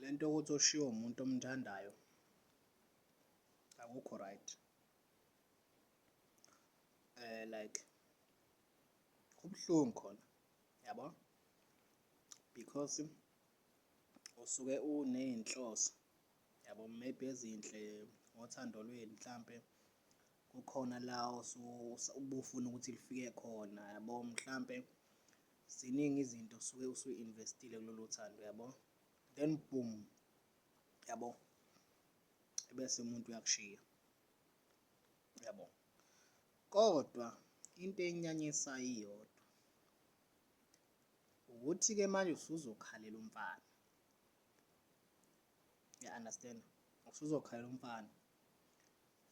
Le nto yokuthi oshiwe umuntu omthandayo akukho right eh like kubuhlungu khona yabo because usuke unezinhloso yabo maybe ezinhle ngothando lwenu mhlampe kukhona la ubufuna ukuthi lifike khona yabo mhlampe Ziningi izinto suke usuyi investile kulolu thando yabo then boom yabo ebese umuntu uyakushiya yabo kodwa into enyanyisayo iyodwa ukuthi ke manje usuzokhalela umfana ya understand usuzokhalela umfana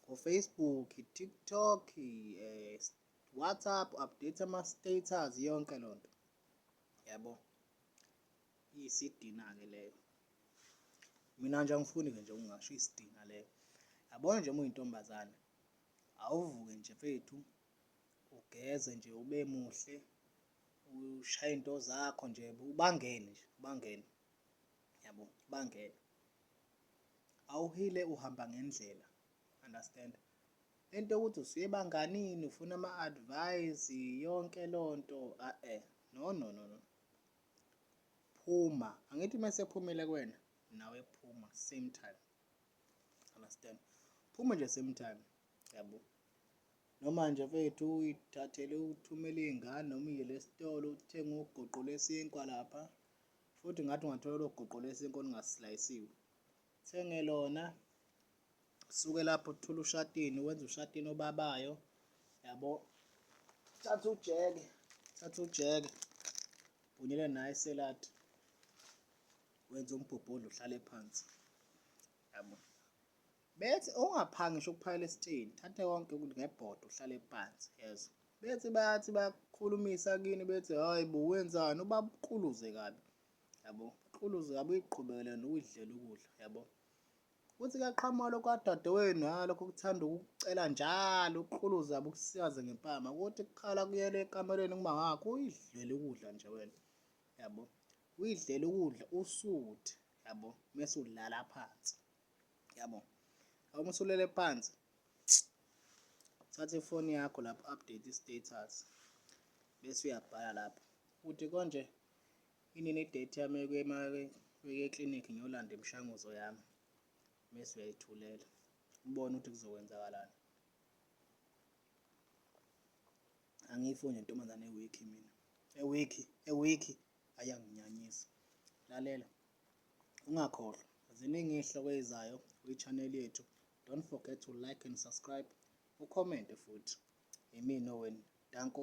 ngo Facebook TikTok eh WhatsApp, update ama-status yonke loo nto yabo iyisidina-ke leyo mina nje angifuni-ke nje ungasho iyisidina leyo yabona nje uma uyintombazane awuvuke nje fethu ugeze nje ube muhle ushaye into zakho nje ubangene nje ubangene yabo ubangene awuhile uhamba ngendlela understand Lento yokuthi usebanganini ufuna ama advice yonke lonto a e no no no no phuma angithi mase phumile kuwena nawe phuma same time understand phuma nje same time yabo noma nje mfethu uyithathele uthumele iy'ngane noma uyele esitolo uthenge ugoqo lwesinkwa lapha futhi ngathi ungathola lo goqo lwesinkwa olungasilayisiwe thenge lona suke lapho uthula ushatini wenza ushatini obabayo yabo thatha ujeke thatha ujeke bhunyele naye seladi wenza umbhobhodla uhlale phansi yabo bethi ungaphangi ngisho ukuphakela esitini thathe konke ukuthi ngebhodo uhlale phansi yezo bethi bayathi bakhulumisa kini bethi hayi bo wenzani ubabukuluze kabi yabo uquluze kabi uyiqhubekele nokuyidlela ukudla yabo Uthi kuyaqhamuka lokhu kadadewenu nalokho kuthanda ukucela njalo ukuquluza abukusikaze ngempama ukuthi kukhala kuyele ekamelweni kuma wakho uyidlele ukudla nje wena yabo uyidlele ukudla usuthi yabo mese udlala phansi yabo uma usulele phansi thatha ifoni yakho lapho update status bese uyabhala lapho ukuthi konje Inini date yami yokuya eclinic ngiyolanda imishanguzo yami mese uyayithulela ubone ukuthi kuzokwenzakalani. Angiyifuni ntombazane ewikhi mina ewikhi ewikhi ayanginyanyisa lalela ungakhohlwa ziningi izihloko ezizayo kwi-channel yethu don't forget to like and subscribe ucommente futhi yimina owenu danko